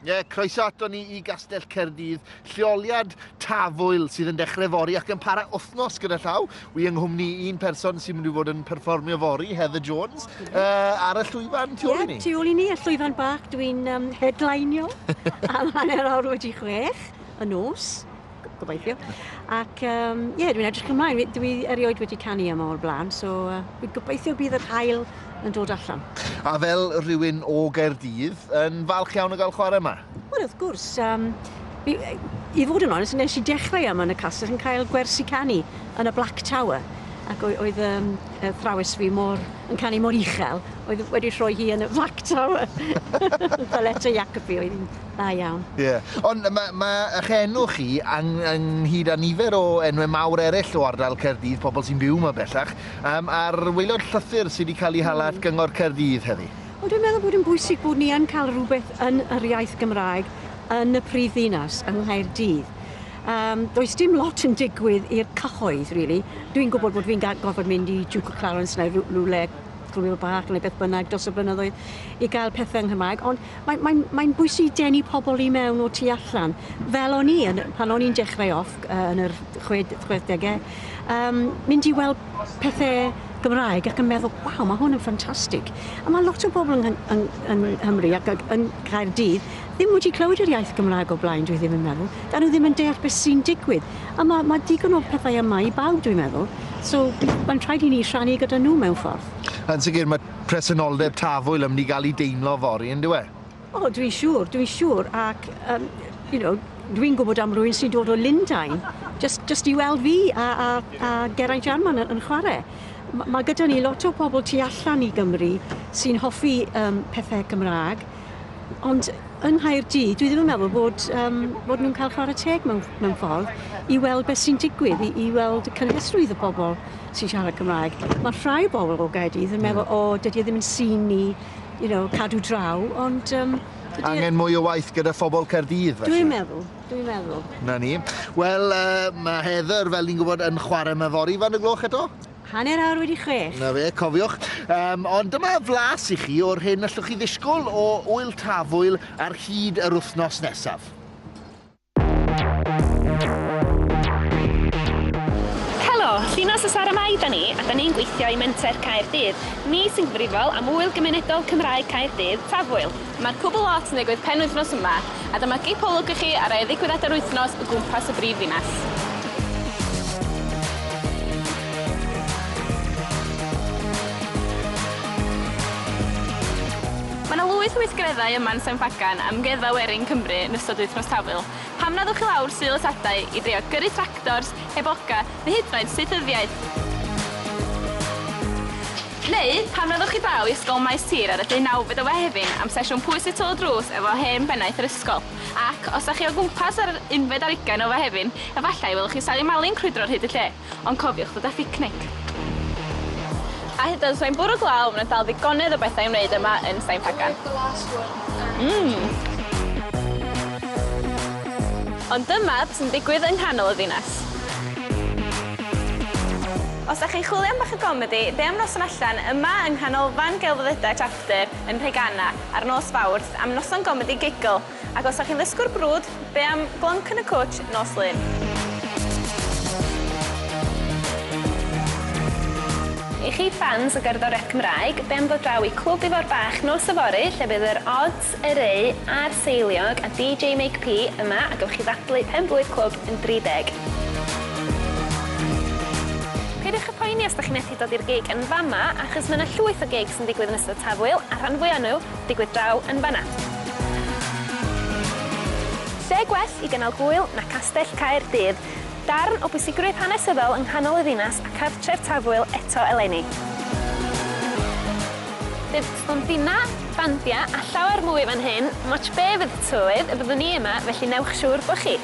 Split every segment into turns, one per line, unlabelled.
Ie, croeso ato ni i Gastell Cerdydd, lleoliad tafwyl sydd yn dechrau fori ac yn para wythnos gyda llaw. Wi yng nghwmni un person sy'n mynd i fod yn perfformio fori, Heather Jones, uh, ar y llwyfan tu ôl i ni. Ie, tu ôl i ni, y llwyfan
bach, dwi'n um, headlineio am hanner awr wedi chwech y nos. gobeithio. Ac um, yeah, dwi'n edrych ymlaen. Dwi erioed wedi canu yma o'r blaen, so uh, dwi'n gobeithio bydd yr hael yn dod allan. A fel
rhywun o Gaerdydd, yn falch iawn o gael chwarae yma? Wel, wrth gwrs.
Um, i, I fod yn onest, nes i dechrau yma yn y castell yn cael gwersi canu yn y Black Tower ac oedd um, y thrawes fi mor, yn canu mor uchel, oedd wedi rhoi hi yn y Black Tower. Fel eto Jacobi oedd hi'n Da iawn. Ie. Ond mae
ma' eich enw chi ang- ynghyd â nifer o enwe mawr eraill o ardal Caerdydd, pobl sy'n byw 'ma bellach, yym a'r waelod llythyr sy' 'di cael ei hala at Gyngor Caerdydd heddi. Wel dwi'n meddwl bod yn
bwysig bod ni yn cael rhywbeth yn yr iaith Gymraeg yn y prif ddinas, yng Nghaerdydd. Yym does dim lot yn digwydd i'r cyhoedd rili. Dwi'n gwybod bod fi'n ga- gorfod mynd i Duke of Clarence neu rw- rywle, Clwyd y Bach neu beth bynnag dros y blynyddoedd i gael pethe yng Nghymraeg, ond Mae'n mae'n mae'n bwysig denu pobl i mewn o tu allan. Fel o'n i yn pan o'n i'n dechrau off uh, yn yr chwe, chwedegau, um, mynd i weld pethe Gymraeg ac yn meddwl, waw, mae hwn yn ffantastig. A mae lot o bobl yn, yn, yn, yn Nghymru ac yn Caerdydd ddim wedi clywed yr iaith Gymraeg o blaen, dwi ddim yn meddwl. Da nhw ddim yn deall beth sy'n digwydd. A mae, mae digon o pethau yma i bawb, dwi'n meddwl. So, mae'n rhaid i ni rhannu gyda nhw mewn ffordd. Yn sicr, mae
presenoldeb tafwyl yn mynd i gael ei deimlo fory, yn dyw e? O, dwi'n siŵr,
dwi'n siŵr, ac um, you know, dwi'n gwybod am rwy'n sy'n dod o Lundain, just, just i weld fi a, a, a Geraint Jarman yn, yn chwarae. Mae ma gyda ni lot o pobl tu allan i Gymru sy'n hoffi um, pethau Cymraeg, Ond yng Nghaerdydd, dwi ddim yn meddwl bod, um, bod nhw'n cael chwarae teg mewn, mewn ffordd i weld beth sy'n digwydd, i, i weld y cynhesrwydd y pobl sy'n siarad Cymraeg. Mae rhai o bobl o Gaerdydd yn meddwl, o, oh, dydy e ddim yn sy'n ni, you know, cadw draw, ond... Um, e- Angen mwy
o waith gyda phobl Caerdydd, felly? Dwi'n meddwl, dwi'n meddwl.
Na ni.
Wel, uh, mae Heather, fel ni'n gwybod, yn chwarae mewn fori fan y gloch eto? Hanner awr wedi
chwech. 'Na fe, cofiwch.
Yym, ond dyma flas i chi o'r hyn allwch chi ddisgwyl o Ŵyl Tafwyl ar hyd yr wythnos nesaf.
Helo! Llinos y Sara Mai 'da ni, a 'da ni'n gweithio i Menter Caerdydd. Ni sy'n gyfrifol am Ŵyl Gymunedol Cymraeg Caerdydd, Tafwyl. Mae'r Publ Lot yn digwydd penwythnos yma, a dyma gip olwg i chi ar rai o ddigwyddiadau'r wythnos o gwmpas y brif ddinas. Mae 'na lwyth o weithgareddau yma yn San Ffagan am Amgueddfa Werin Cymru yn ystod Wythnos Tafwyl. Pam na ddewch i lawr Sul y Tadau i drio gyrru tractors, heb oca, neu hyd yn oed saethyddiaeth? Neu, pan fyddwch chi draw i Ysgol Maes Tir ar y deunawfed o Fehefin am sesiwn Pwys y Tŷ Drws efo hen bennaeth yr ysgol. Ac, os dach chi o gwmpas ar yr unfed ar ugain o Fehefin, efallai y welwch chi Sali Mali'n crwydro ar hyd y lle. Ond cofiwch ddod â phicnic. A hyd yn oed os mae'n bwrw glaw, mae 'na dal ddigonedd o bethau i'w wneud yma yn Staen Pagan. Mmm! Ond dyma beth sy'n digwydd yng nghanol y ddinas. Os dach chi'n chwilio am bach o gomedi, be am noson allan yma yng Nghanolfan Gelfyddydau Chapter yn Nhreganna ar nos Fawrth am noson gomedi giggle? Ac os dach chi'n ddysgwr brwd, be am glonc yn y cwtsh nos Lun? I chi ffans o gerddoriaeth Cymraeg, be am ddod draw i Clwb Ifor Bach nos yfory lle bydd yr Odds, Eryri a'r Seiliog a DJ Make P yma a gewch chi ddathlu pen blwydd clwb yn 30. Peidiwch â phoeni os dych chi methu dod i'r gig yn fama achos mae yna llwyth o gigs yn digwydd yn ystod Tafwyl a'r rhan fwya o nhw digwydd draw yn fanna. Lle gwell i gynnal gŵyl na Castell Caer Dydd? Darn o bwysigrwydd hanesyddol yng nghanol y ddinas a chartref tafwyl eto eleni. Bydd stondinau, bandiau a llawer mwy fan hyn, dim ots be fydd y tywydd, y byddwn ni yma, felly newch siŵr bod chi!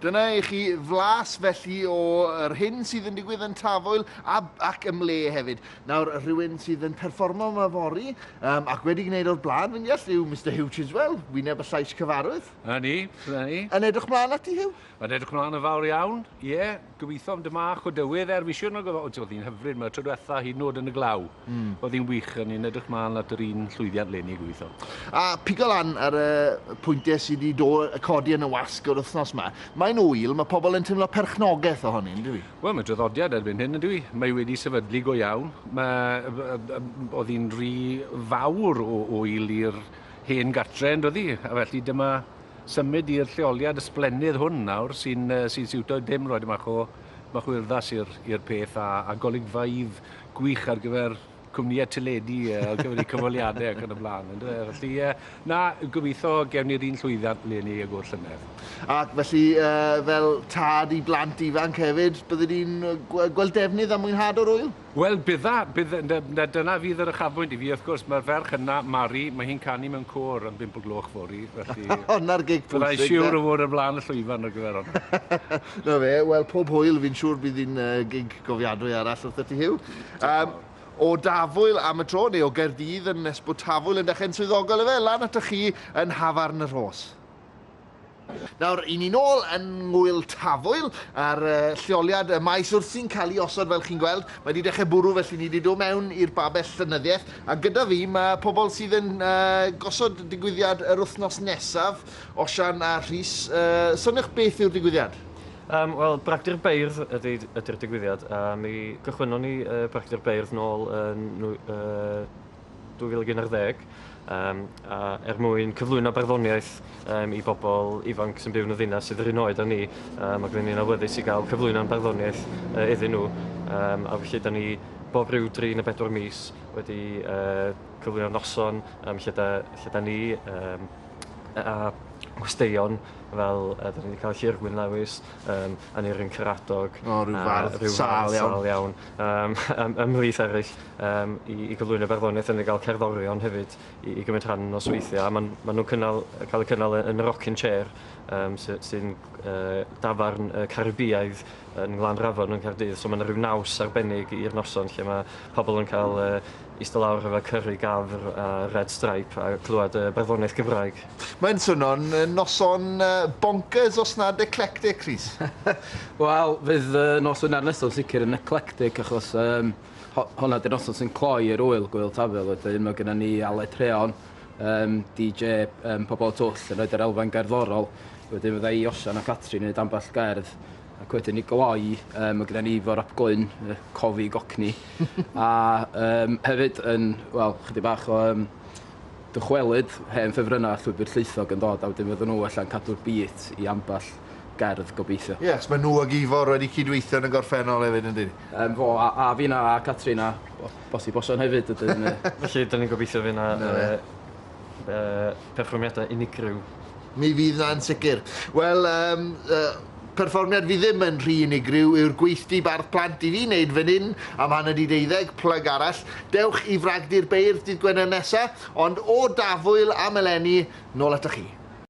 Dyna i chi flas felly o yr hyn sydd yn digwydd yn Tafwyl a, ac ym mle hefyd. Nawr, rhywun sydd yn perfformo yma fori um, ac wedi gwneud o'r blaen, fi'n deall, yw Mr Hugh Chiswell, wyneb y llais cyfarwydd. Na ni, na
ni. Yn edrych
mlaen ati, Hugh? Yn edrych mlaen yn fawr
iawn, ie. Yeah. Gobeithio am dymach o dywydd er wisiwn ag oedd oedd hi'n hyfryd mae'r tro diwetha hyd yn oed yn y glaw. Mm. Oedd hi'n wych a ni'n edrych mlaen at yr un llwyddiant leni gobeithio. A pigo lan
ar y pwyntiau sydd wedi do, codi yn y wasg yr wythnos yma. Mae'n ŵyl, mae pobl yn teimlo perchnogaeth ohoni, yn dyw? Wel, mae traddodiad erbyn
hyn, yn dyw? Mae wedi sefydlu go iawn. Mae, oedd hi'n rhy fawr o ŵyl i'r hen gartre, yn doedd hi? A felly dyma symud i'r lleoliad ysblennydd hwn nawr sy'n sy'n siwto dim roed bach o bach o urddas i'r i'r peth a a golygfeydd gwych ar gyfer cwmnïau teledu ar gyfer eu cyfweliadau ac yn y blaen yndyw e? Felly ie na gobeitho gewn ni'r un llwyddiant ble ni ag o'r llynedd. Ac felly
fel tad i blant ifanc hefyd bydde di'n gweld defnydd a mwynhad o'r ŵyl? Wel, bydda,
bydda, na, dyna fydd yr uchafbwynt i fi. Wrth gwrs, mae'r ferch yna, Mari, mae hi'n canu mewn côr am bump o gloch fory, felly... Honna'r gig pwysig,
de? Byddai'n siwr o fod o flaen
y llwyfan ar gyfer honna. 'Na fe, wel,
pob hwyl, fi'n siwr bydd hi'n gig gofiadwy arall wrtho ti, Huw. Diolch O Dafwyl am y tro, neu o Gaerdydd yn nes bod Tafwyl yn dechrau'n swyddogol ife, lan atoch chi yn Nhafarn y Rhos. Nawr, i ni'n ôl yn Ngŵyl Tafwyl, a'r lleoliad y maes wrthi'n cael ei osod fel chi'n gweld. Mae wedi dechrau bwrw felly ni wedi dod mewn i'r babell llenyddiaeth, a gyda fi mae pobl sydd yn gosod digwyddiad yr wythnos nesaf, Osian a Rhys. Soniwch beth yw'r digwyddiad? Yym, wel,
Bragdy'r Beirdd ydy ydy'r digwyddiad, a mi gychwynnon ni Bragdy'r Beirdd nôl yn nwy- yy 2011 um, a er mwyn cyflwyno barddoniaeth um, i bobl ifanc sy'n byw yn y ddinas sydd yr un oed â ni um, ac rydyn ni'n awyddus i gael cyflwyno'n barddoniaeth uh, iddyn nhw um, a felly da ni bob rhyw dri neu bedwar mis wedi uh, cyflwyno'r noson um, lle, da, lle da ni um, a gwesteion fel uh, da ni wedi cael Llyr Gwyn Lewis um, a Neirin Caradog oh, rhyw
fardd sal iawn, sal iawn Yym yym ymhlith
eryll yym i i gyflwyno barddoniaeth a ni ga'l cerddorion hefyd i i gymryd rhan yn nosweithie a ma'n ma' nw'n cynnal yy ca'l eu cynnal yy yn y rocking chair yym sy sy'n g- yy dafarn yy Caribïaidd yn Nglanrafon yn Caerdydd so ma' 'na ryw naws arbennig i'r noson lle ma' pobol yn ca'l yy ista lawr efo cyrri gafr a red stripe a clwad yy barddoniaeth Gymraeg. Mae'n swno'n
noson bonkers os nad eclectic, Rhys. Wel,
fydd y nos Wener nesaf yn sicr yn eclectic achos um, hwnna di'r noson sy'n cloi yr wyl gwyl tafel wedyn. Mae gennym ni Aled Treon, um, DJ um, Pobol y Twll yn rhoi'r yr elfen gerddorol. Wedyn fydda i, Osian a Catrin yn neud ambell gerdd ac wedyn i gloi, um, mae gennym ni fo Rob Glyn, uh, cofi gocni, a um, hefyd yn, wel, chydig bach o um, Dychwelyd hen ffefrynnau a llwybr llwythog yn dod a wedyn fydden nhw ella'n cadw'r beat i ambell gerdd gobeithio. Ie achos mae nhw ag Ifor
wedi cydweithio yn y gorffennol hefyd yn dyn? Yym fo a a finna
a Catrin a o- bosib Osian hefyd ydyn yy. Felly 'dan ni'n
gobeithio fy' 'na yy yy perfformiadau unigryw. Mi fydd 'na
yn sicr. Wel yym yy perfformiad fi ddim yn rhy unigryw yw'r gweithdy bardd plant i fi wneud fan hyn am hanner 'di deuddeg, plug arall. Dewch i Fragdy'r Beirdd dydd Gwener nesa, ond o Dafwyl am eleni, nôl atoch chi.